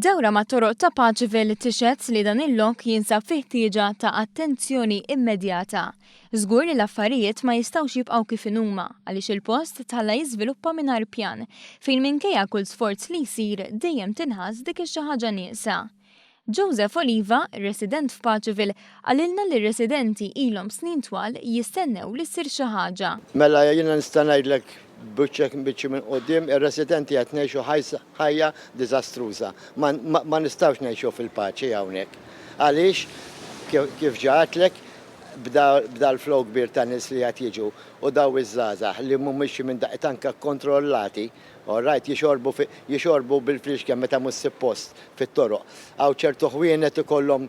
Dawra ma' toroq ta' Paċivil tixhed li dan il-lok jinsab fi ħtieġa ta' attenzjoni immedjata. Żgur li l-affarijiet ma jistgħux jibqgħu kif inhuma għaliex il-post tħalla jiżviluppa mingħajr pjan, fejn minkejja kull sforz li jsir dejjem tinħass dik ix-xi ħaġa nieqsa. Joseph Oliva, resident f'Paċivil, qalilna li r-residenti ilhom snin twal jistennew li ssir xi ħaġa. Mela jiena nista' ngħidlek b'wiċċek mbiċċi minn quddiem, ir-residenti qed ngħixu ħajja diżastruża. Ma nistgħux ngħixu fil-paċi hawnhekk. Għaliex, kif ġa għedtlek, b'dal-flow kbir ta' nies li qed jiġu u dawn iż-żgħażagħ li mhumiex xi minn daqqiet anke kkontrollati, All right, jixorbu fi, jixorbu bil-friexken meta mhux sippost fit-toroq. Hawn ċertu ħwienet ikollhom,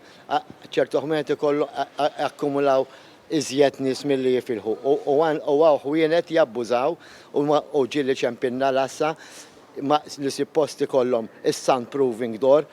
ċertu ħwienet ikollhom jakkumulaw iżjed nies milli jifilħu. U hawn ħwienet jabbużaw u ġieli ċempinna l-għassa li sippost ikollhom is-sound proving door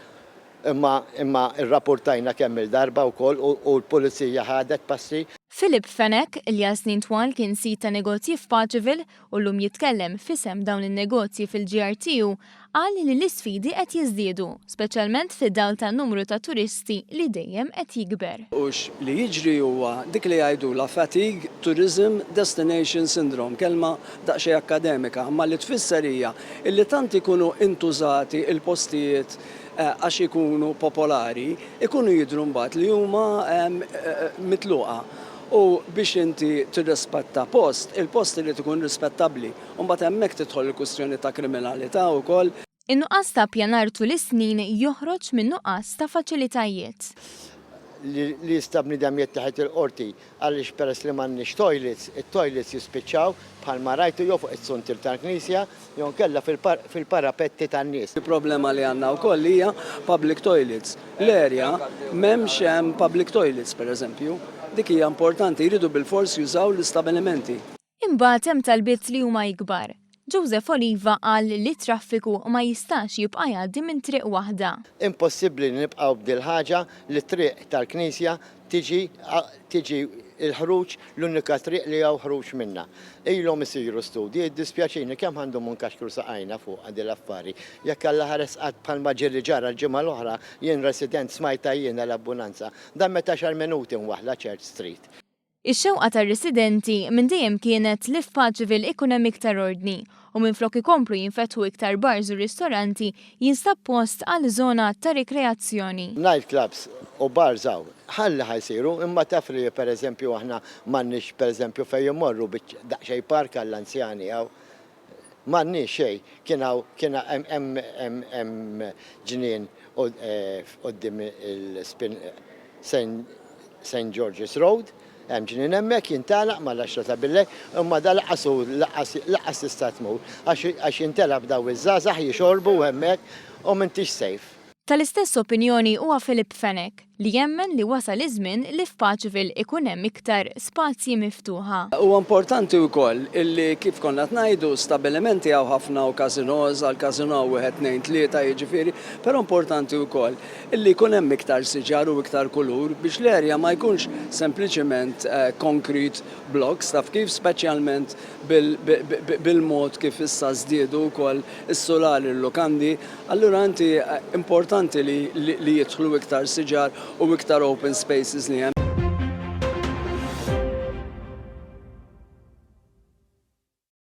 imma, imma rrapurtajna kemm-il darba wkoll u l-pulizija ħadet passi. Philip Fenech, li għal snin twal kien sid ta' negozji f'Pageville u llum jitkellem f'isem dawn in-negozji fil-GRTU, qal li l-isfidi qed jiżdiedu, speċjalment fid-dawl tan-numru ta' turisti li dejjem qed jikber. U li jiġri huwa dik li jgħidulha fatigue tourism destination syndrome, kelma daqsxejn akkademika, imma li tfisser hija li tant ikunu intużati l-postijiet għax ikunu popolari, ikunu jidhru mbagħad li huma mitluqa. U biex inti tirrispetta post, il-post irid ikun rispettabbli. U mbagħad hemmhekk tidħol il-kwistjoni ta' kriminalità wkoll. In-nuqqas ta' ppjanar tul is-snin joħroġ minn nuqqas ta' faċilitajiet. Li jista' bniedem jitteħed il-Qorti għaliex peress li m'għandniex toilets, it-toilets jispiċċaw, bħalma rajtu, jew fuq it-suntiel tal-knisja, jew inkella fil-parapetti tan-nies. Problema li għandna wkoll hija public toilets. L-erja m'hemmx hemm public toilets, pereżempju. Dik hija importanti, jridu bilfors jużaw l-istabilimenti. Imbagħad hemm talbiet li huma ikbar. Joseph Oliva qal li t-traffiku ma jistax jibqa' jgħaddi minn triq waħda. Impossibbli li nibqgħu b'dil-ħaġa li t-triq tal-Knisja Tiġi, tiġi l-ħruġ l-unika triq li hawn ħruġ minnha. Ilhom isiru studji, jiddispjaċini kemm ħa ndumu nkaxkru saqajna fuqha din l-affari. Jekk Alla ħares qatt bħalma ġie li ġara l-ġimgħa l-oħra, jien resident smajtha jiena l-abbunanza, dammet għaxar minuti mwaħħla Church Street. Ix-xewqa tar-residenti minn dejjem kienet li f'Parkville ikun hemm iktar ordni u minflok ikomplu jinfetħu iktar bars u ristoranti jinstab post għal żona ta' rikreazzjoni. Night clubs u bars hawn ħalli ħa jsiru imma taf li per eżempju aħna m'għandniex per eżempju fejn immorru biċ daqsxejn park għall-anzjani hawn m'għandniex xejn kien hawn kien hemm hemm hemm ġnien quddiem il-Spin Saint Saint George's Road Hemm ġnien hemmhekk jintgħalaq mal-għaxra ta' billejl, imma dan lanqas hu lanqas tista' tmur għax jintelgħab daw iż-żgħażagħ jixorbu hemmhekk u m'intix safe. Tal-istess opinjoni huwa Philip Fenech li jemmen li wasal iż-żmien li f'Pageville ikun hemm iktar spazji miftuħa. Huwa importanti wkoll illi kif konna qed ngħidu stabbilimenti hawn ħafna u casino's, għall-casino hawn wieħed tnejn tlieta jiġifieri, però importanti wkoll Li jkun hemm iktar siġar u iktar kulur biex l-erja ma jkunx sempliċiment concrete blocks, taf kif, speċjalment bil-mod kif issa żdiedu wkoll is-sulali, l-lukandi, allura inti importanti li jidħlu iktar siġar u iktar open spaces li hemm.